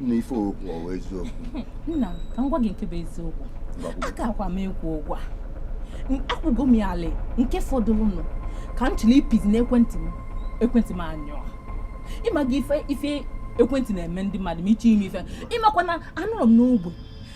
nna ife okwu ọwa eziokwu nna ka m gwa gị nke bụ eziokwu aka akwa m ekwu ụgwọ a akwụgo m ya ala nke fọdụrụnụ ka m chọrọ ịpịzi n'ekwentị m ekwentị m anyụọ ị maghị ife ekwentị na-eme ndị mmadụ ma ị chọọ ime ife ị makwa na anụrụ m n'ogbe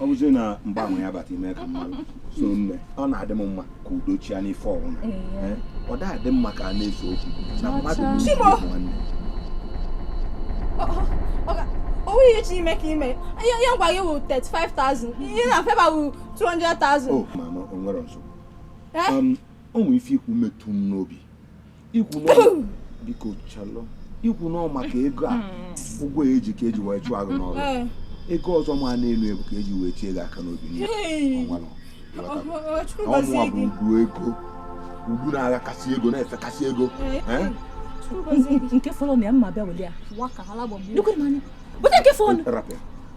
ọ bụzi na mgbanwe ya bata ime ka mmadụ so nne ọ na-adị m mma ka udo chia n'ife ọbụna eh, ọ da adị mma ka a na-ese okwu na mmadụ nwanne o nwe ihe ị chọ ime ka i mee ihe ngwa gị wụ 35,000 ihe na feba wụ 200,000 mana o nwere nsogbu eh? um, o nwere ife i kwu metụ m n'obi i kwu biko chelụ i kwu na ọ maka ego a ụgwọ e ji ka e ji wee chụọ gị n'ọrụ ego ọzọ ma na-elu ebu ka e ji wee tie gị aka n'obi ọ mụwa bụ ugwu ego ugwu na-agha kasị ego na-efe kasị ego nke fọrọ na ya mma bịa wele ya nke fọrọ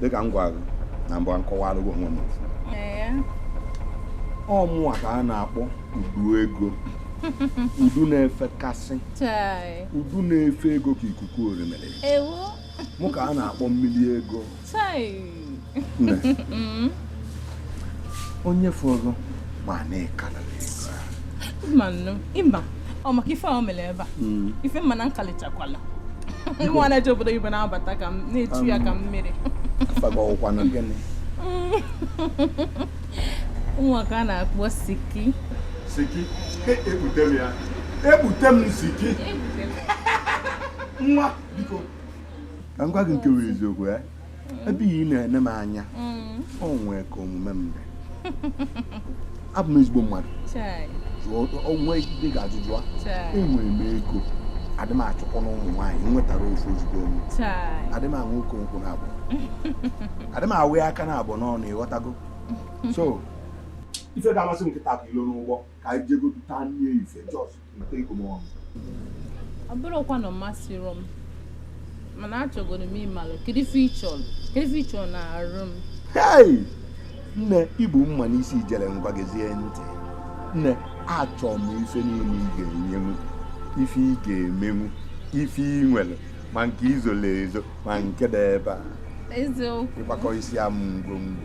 dịka m gwa gị na mbụ m kọwalụ gị onwe m ọ mụwa ka a na-akpọ udu ego udu na-efekasị udu na-efe ego ka ikuku orimiri mụ ka a na-akpọ mmiri ego onye fọrọ ma na-ekara ị ma ọ maka ife ahụ mere ebe a mm. ife mma na nkalichakwala nwa na-eje obodo oyibo na-abata ka m na-echu ya ka mmiri afa gị ọ kwanụ gịnị mụwa ka a na-akpọ siki siki e, ebute m ya ebute m siki nwa biko ka m gwa gị nke bụ eziokwu ya eh? ebe ị na-ene m anya mm. o nwee ka omume m dị abụ m ezigbo mmadụ o nwe ndị ị ga-ajụ jụọ enwere m ego adị m achụkwụ na ụmụ nwaanyị m nwetara ofu o zugo m adị m aṅụ oke nkwụ na abụ adị m awụ ya aka na abụ n'ọnụ ị ghọtago so ife ga-amasị m kịta ka ị nọrọ n'ụgbọ ka anyị jegodu taa nne ife just ọ bụrọkwa na ọ masịrọ m mana achọgodu m ịmalụ kedu ife ị chọrọ n'arụ m Hey! nne i gbu mma n'isi ijere ngwa gezie ntị nne achọ m ife niile ị ga-enyenwu ife ị ga-emenwu ife ị nwere ma nke i zolu ezo ma nke dị ebe a eziokwu ị kwakọsịa mụ ngwongwo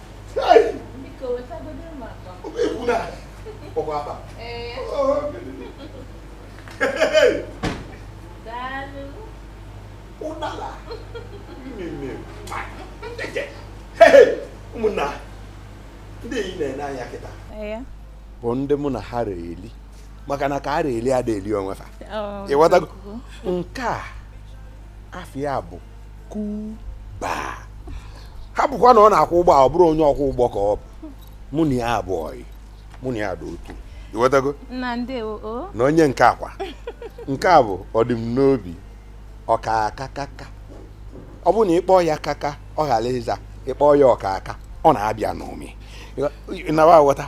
ụmụnna ndị ị na-ene anya kịta bụ ndị mụ na ha reli maka na ka a reli ada eli onwe ha oh, ịghọtago nke a afa ya bụ kuba ha bụkwa na ọ na-akwọ ụgbọ ọ bụrụ onye ọkwọ ụgbọ ka ọ bụ mụ na ya bụ ọyị mụ na ya bụ otu ịghọtago na onye nke akwa nke a bụ ọdịm n'obi ọka akakaka ọ bụrụ na ị kpọ ya kaka ọ ghara ịza ị kpọ ya ọka aka ọ na-abịa n'ụmị nawa aghọta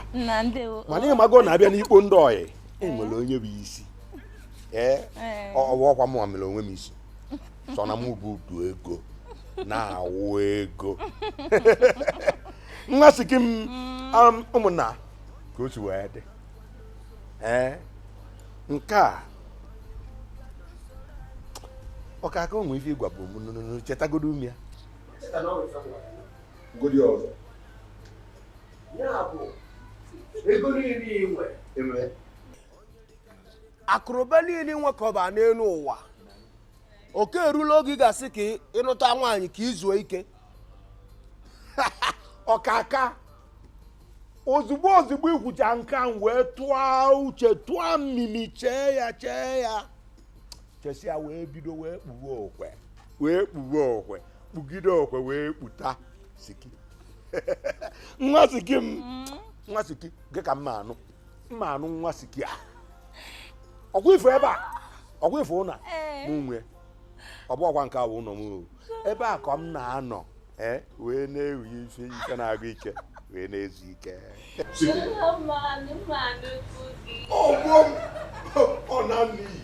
mana ị mago na a bịa n'ikpo ndị ọyị e nwere onye bụ isi ee ọ bụrọkwa mụ mere onwe m isi sọ na mụ bụ udu ego na-awụ ego nwa siki m um, ụmụnna ka o si wee dị ee nke a ọka aka o nwe ife ị gwabu m chetagodo m ya godi ọzọ ya bụ ego niile i nwe akụ na ụba niile i nwekọba n'elu ụwa oge erula oge ị ga-asị ka ị- ịnụta nwaanyị ka i zuo ike ọkaka ozugbo ozugbo i kwucha nke a m wee tụọ uche tụọ mmimi chee ya chee ya chesịa wee bido wee kpuwe okwe wee kpuwe okwe kpugide okwe wee kputa siki nwa siki m nwa siki gị ka m ma-anụ m ma-anụ nwa siki a ọkwa ị fụ ebe a ọkwa ị fụ ụnọ m nwe ọ bụrọkwa nke a wụ ụlọ m ebe a ka m na-anọ eh, wee na-ewe ife ike na-agụ ike wee na-ezu ike ọ na-anụ iyi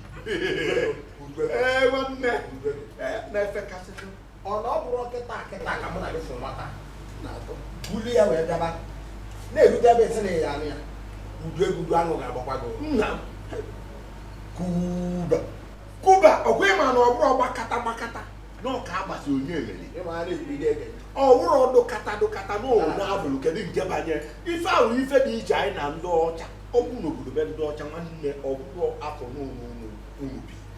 ee nwanne na-efe kasịtụ ọ na ọ bụrụ kịta kịta ka mụ na gị fụ nwata na-atọ bulu ya wee bịaba na-erute ebe esi na ya anụ ya udu egudu anụ ga-agbakwa gị nna m kuba kuba ọkwa ị ma na ọ bụrụ gbakata gbakata na ọka agbasi onye emeri ịma a na-ekwu ide ege ọ bụrụ ọdụ kata dụ kata na ụlọ na-abụrụ kedu nke banye ife ahụ ife dị iche anyị na ndị ọcha ọ bụ n'obodo be ndị ọcha nwanne ọ bụrụ afọ n'ụlọ unu unu bi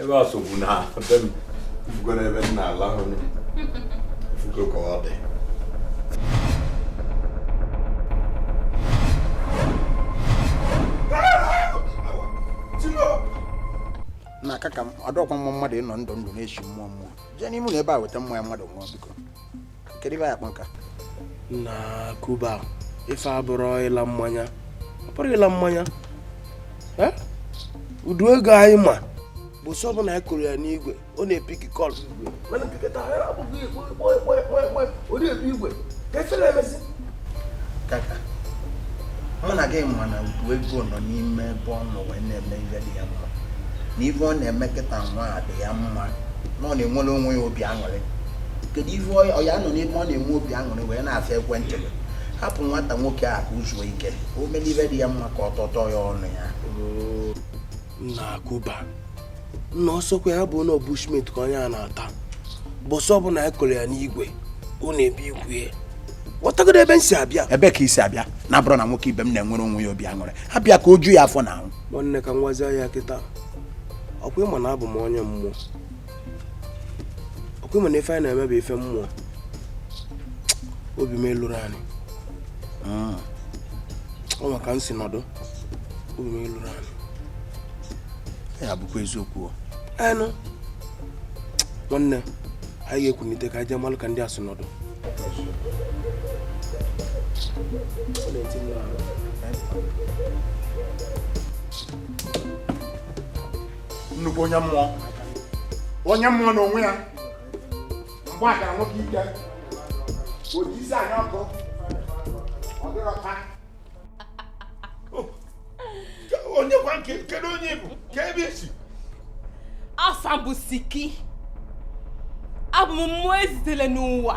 ebe a sogbu na be m ị fụgo n'ebe m na-alahụ ị fụgo ka ọ dị na aka ka m ọ dịrọkwa mma mmadụ ịnọ ndụ ndụ na-esi mmụọ mmụọ jee n'ime ụlọ ebe a weta mmanya mmadụ ṅụọ biko kedu ife ya kpọka na kuba ife a bụrụ ịla mmanya ọ bụrụ ịla mmanya Uduego anyị ma bụ sọ bụ na anyị kụrụ ya n'igwe ọ na-epiki call igwe mụ na gị ma na Uduego nọ n'ime ebe ọ nọ wee na-eme ife dị ya mma na ife ọ na-eme kịta nwa a dị ya mma na ọ na-enwere onwe ya obi aṅụrị kedu ife ọ ya-anọ n'ebe ọ na-enwe obi aṅụrị wee na-asa ekwentị hapụ nwata nwoke a ka o zuo ike o mee ife dị ya mma ka ọ tọtọ ya ọnụ ya nna akụba nna ọ sọkwa ya bụ na bushmeat ka onye a na-ata bụ sọ bụ na ị kụrụ ya n'igwe ọ na-epiki igwe ị ghọtagodo ebe m si abịa ebe ka i si abịa na ọ bụrụ na nwoke ibe m na-enwere onwe ya obi aṅụrị hapụ ya ka o ju ya afọ na ahụ nwanne ka m gwazie gị kịta ọ kwa ị ma na abụ m onye mmụọ ọ kwa ị ma na ife anyị na-eme bụ ife mmụọ obi m eluro anị ah. ọ maka m si nọdụ obi m eluro anị ya bụkwa eziokwu anụ nwanne anyị ga-ekunite ka anyị jee malụ ka ndị a si nọdụ nnukwu onye mmụọ onye mmụọ n'onwe ya mgbe a gara nwoke ike oji isi anya ọkụ ọ dịrọ taa onye kwa nke a kedu onye ị bụ ka ebe i si afa m bụ Siki abụ m mmụọ e zitere n'ụwa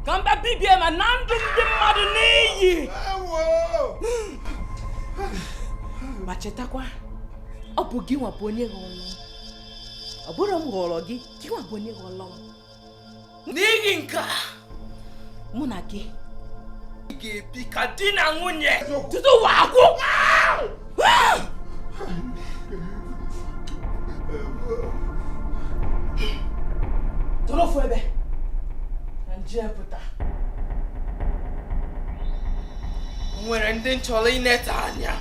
ka m bịa bibie ma naa ndụ ndị mmadụ n'iyi ma chetakwa ọ bụ gị nwa bụ onye họrọ m ọ bụrọ m họrọ gị gị nwa bụ onye họrọ m n'ihi nke a mụ na gị ga-ebi ka di na nwunye tutu ụwa agwụ tọrọ ofu ebe na m jee pụta o nwere ndị m chọrọ ineta anya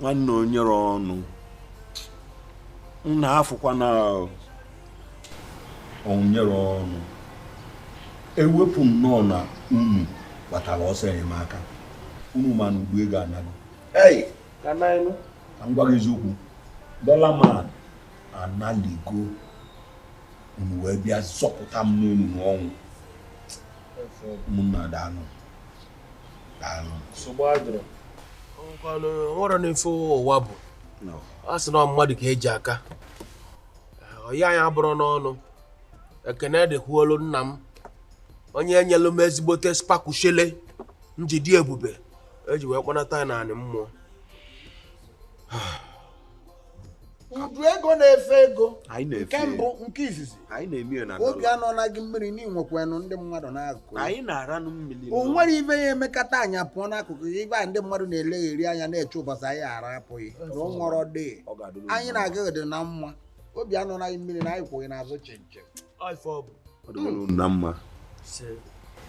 nwanne onyere ọnụ nna afụkwa na onyere ọnụ ewepụ nnọọ na unu gbatara ọsọ enyemaka unu mana Uduego anago ka m gwa gị eziokwu Dollar man analigo unu wee bịa zọpụta m n'ọnụ ọnwụ ụmụnna daalụ daalụ nwerọnụ ife ụwa bụ a sị na mmadụ ka eji aka ọya anyị abụrụ n'ọnụ ekene dịkwuolu nna m onye nyelu m ezigbote spakushele m ji dị ebube eji wee kpọnata ya n'anị mmụọ udu ego na-efe ego nke mbụ nke izizi obi anọọna gị mmiri na i nwekwanụ ndị mmadụ n'akụkụ o nwerọ ife ị ya emekata anyị apụọ n'akụkụ gị ife a ndị mmadụ na-elegheri anya na-eche ụbọchị anyị ga-arapụ gị na o nwerọ dị anyị na gị dị na mma obi anọọna gị mmiri na anyị kwụ gị n'azụ chịm chịm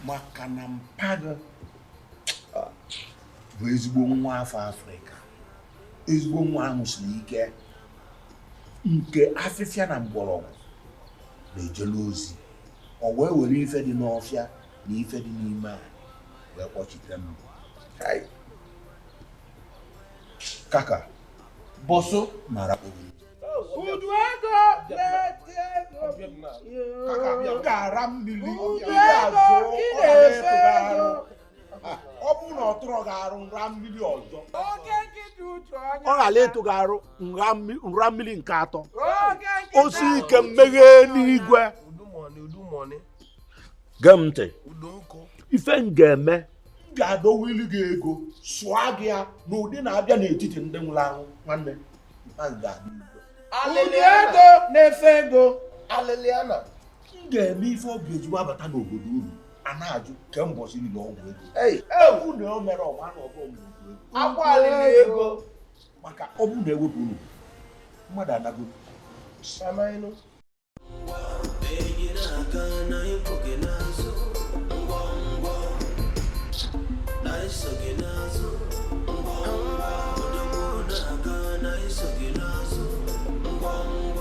maka na mpa gị ah, bụ ezigbo nwa afọ afrịka ezigbo nwa ahụ siri ike nke afịfịa na mgbọrọgwụ na-ejelu ozi o wee were ife dị n'ọfịa na ife dị n'ime anị wee kpọchite m kaka bọsụ mara obi Udu ego na-efe ego kaka bịa gara mmiri Udu ego ị na-efe ego ọ bụrụ na ọ tụrụ gị arụ m ra mmiri ọzọ ọ ghara ịtụ gị arụ m ra mmiri nke atọ osi ike mmeghe n'igwe gee m ntị ife m ga-eme m ga-adọwa ilu gị ego sụọ gị ya n'ụdị na-abịa n'etiti ndị nwụrụ anwụ nwanne alịlị ego na-efe ego alịlị ana m ga-eme ife ọ ga-eji wabata n'obodo unu a na-ajụ kemgbe ụbọsị niile ọgwụ ego egwu na o mere ọgba na ọgụ ọgwụ ego akwa alịlị ego maka ọ bụ na ewepụ unu mmadụ anago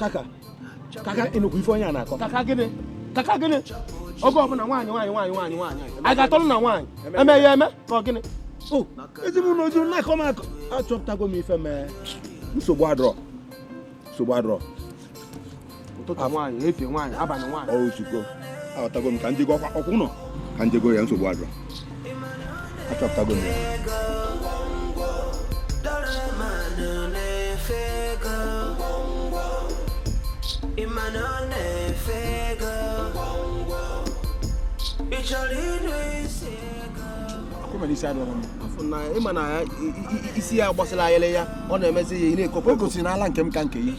kaka kaka ị nụkwa ife onye a na-akọ kaka gịnị kaka gịnị oge ọbụla nwaanyị nwaanyị nwaanyị nwaanyị nwaanyị a ga-atọrọ na nwaanyị eme ya eme ka ọ gịnị ezinụlọ ojuru na-akọ m akọ achọpụtago m ife mee nsogbu adịrọ nsogbu adịrọ ụtụtụ nwaanyị efifie nwaanyị abalị nwaanyị ọ ozugbo aghọtago m ka ndị gị ọkwa ọkwụ nọ ka ndị goro ya nsogbu adịrọ achọpụtago m ya ị ma na isi ya gbasara ayịrị ya ọ na-emezi ya ị na-ekopụ o gosiri n'ala nke m ka nke ya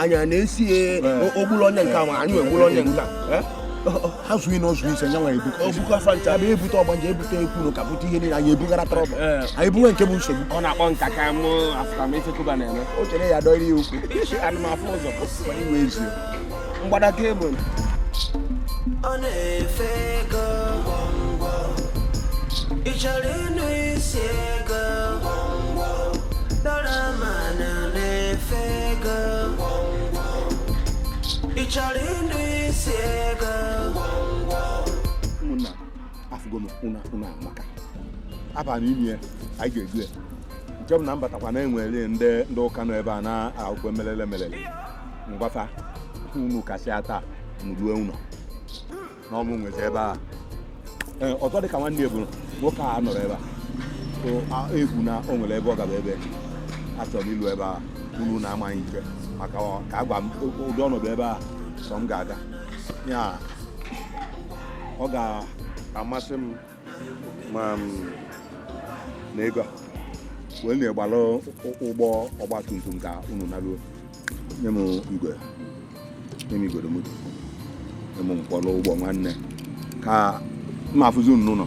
anyị a na-esi o gburu onye nke ahụ anyị egburu onye nke ha zụ ị na ọzụ ise nyanwa ebuka ebuka fa ncha bụ ebute ọgbanje ebute ekwuru ka bute ihe niile anyị ebugara trouble anyị bunwe nke bụ nsogbu ọ na-akpọ nka ka mụ afụka m ife kuba na-eme o chere ya dọrọ ya okwu isi anụmafụ ụzọ iwe ezie mgbada kebụl ọ na-efe ego abana ime anyị ga-egbu ya nke bụ na m batakwa na e nwere ndị ndị ụka nọ ebe a na-akwụkwọ melele melele mgbafa unu kasịa taa unu ruo ụlọ na ọ mụ nwezi ebe a Ee, ọzọ dị ka nwanne eburu nwoke a nọrọ ebe a So, a- egwu na o nwere ebe ọ gaba ebe achọrọ m ilu ebe a unu na amaghị ike maka ọ- ka a gwa m o- ụdị ọnọdụ ebe a sọ m ga-aga ya ọ ga-amasị m na ego a wee na-agbalụ ụgbọ ọgba tum tum ka unu naruo nye m igwe nye m igodo moto nye m mkpọrọ ụgbọ nwanne ka m ma afụzi unu n'ụlọ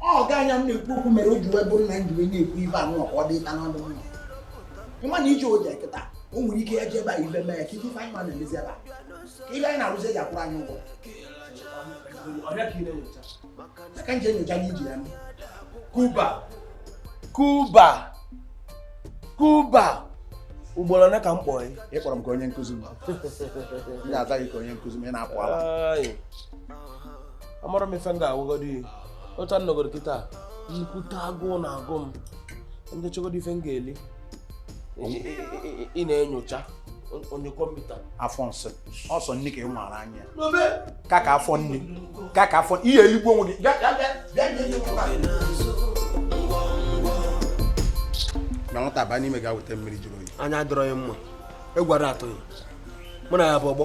ọ ga anya m na-ekwu okwu mere o ji wee bụrụ na m ji wee na-ekwu ife anụ ọkwa ọ dịta n'ọnụ m ị ma na ije o je kịta o nwere ike ya ji ebe a ibe mee ya kịta ife anyị ma na-emezi ebe a ka ife anyị na-arụzi e ji akwụrụ anyị ụgwọ aka nje nyocha n'iji ya kuba kuba kuba ugboro ole ka m kpọrọ gị ị kpọrọ m ka onye nkụzi m na-aza gị ka onye nkụzi m ị na-apụ ala amarọ m ife m ga-agwagodi gị otu a nọgoro kịta nnukwute agụụ na-agụ m m chọgodi ife m ga-eli ị na-enyocha onye kọmputa afọ nsị ọ sọ nni ka ị maara anya ka ka afọ nni ka ka afọ ihe eligbuo onwe gị na nwata a baa n'ime ga weta mmiri jụrụ oyi anya adịrọ ya mma egwara atụghị mụ na ya bụ ọgbọ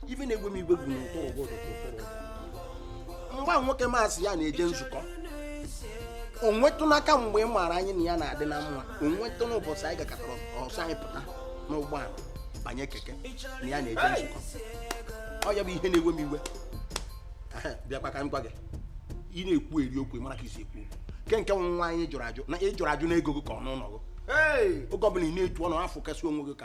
ife na-ewe m iwe bụ na ụtụrụ ụgwọ ụtụrụ ụgwọ. mgbe ahụ nwoke m asị ya na-eje nzukọ o nwetụnụ ka mgbe ị maara anyị na ya na-adị na mma o nwetụnụ ụbọchị anyị gakọtara ọsọ anyị pụta n'ụgbọala banye keke na ya na-eje nzukọ ọ ya bụ ihe na-ewe m iwe Ehe, bịakwa ka m gwa gị ị na-ekwu eri okwu ị mara ka e si ekwu okwu nke nke nwaanyị jụrụ ajụ na ị jụrụ ajụ na ego gị ka ọ n'ụlọ gị Hey! oge ọbụla ị na-etu ọnụ afọ kasị onwe gị ka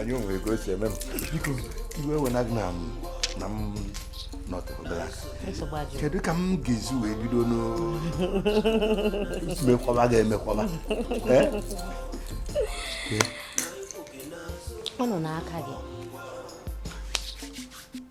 anyị o nwe ka o si eme m biko iwe ewena gị na na m nọtụrụla kedu ka m ga-esi wee bido mekwaba ga-emekwaba ọ nọ n'aka gị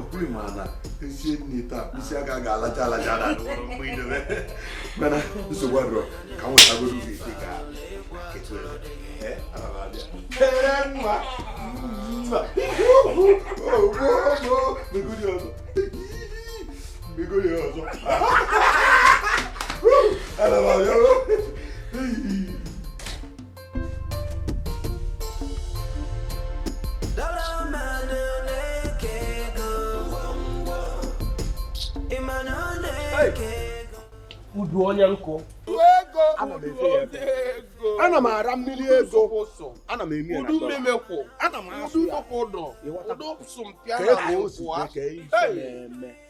ọkpụrụ ma na e sie nni taa isi aka ga-alacha alacha na mgbe i dobe mana nsogbu adịrọ ka m wetagodo gị dị ka Begoli ọzọ. Ana m abịa. udu onye nkụ ana m ara mmiri ego ana m eme udu mmemekwu ana m asụ ya udu sụmpịa na nkwa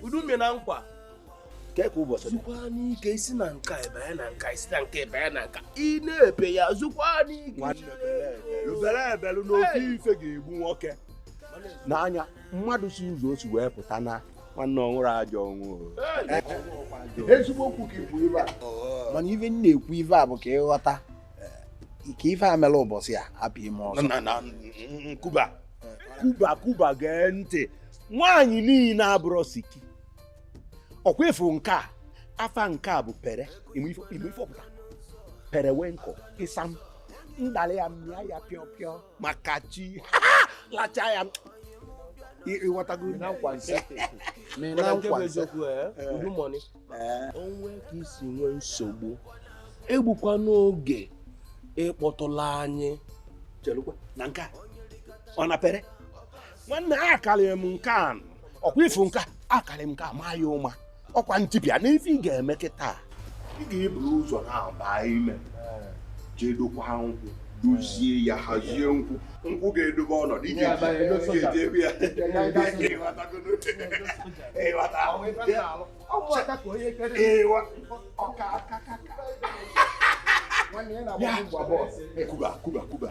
udu mme na nkwa ka ka ụbọchị zukwanụ ike i si na nke a ebe na nke a i si na nke a ebe na nke a ị na-ebe ya zukwanụ ike lụbere ebelu n'ofe ife ga-egbu nwoke n'anya mmadụ si ụzọ o si wee pụta na nwanne ọ nwụrụ ajọ ọnwụ ezigbo okwu ka i kwu ife a mana ife m na-ekwu ife a bụ ka ịghọta ka ife a mere ụbọchị a hapụ ime ọzọ kuba kuba kuba gee ntị nwaanyị niile abụrọ siki ọkwa ị fụ nke a afa nke a bụ pere ị ma ife ọ pụta periwinkle ịsam m dalị ya m mịa ya pịọ pịọ maka chi lacha ya ịghọtago na nkwa nke eziokwu eh, eh. udu money eh. o nwe ka i si nwee nsogbu egbukwana oge ịkpọtụla anyị na nke ọ na pere nwanne a karịrị m nke a ọkwa ị fụ nke a karịrị m nke a maa ya ụma ọkwa ntipịa na ife ị ga-eme kịta ị ga-eburu ụzọ na-abaa ime jee dokwa nkwụ dozie ya hazie nkwụ nkwụ ga-edobe ọnọdụ iji eji ebe ya kuba kuba kuba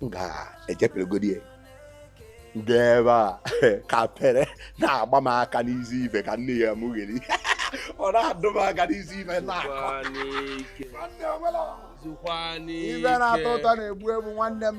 m ga-ejeperegodi ya ndị ebe a ka pere na-agba m aka n'izu ife ka nni a mụ ga-eri ọ na-adụ m aka n'izu ife na-akọ ife na-atọ ụtọ na-egbu egbu nwanne m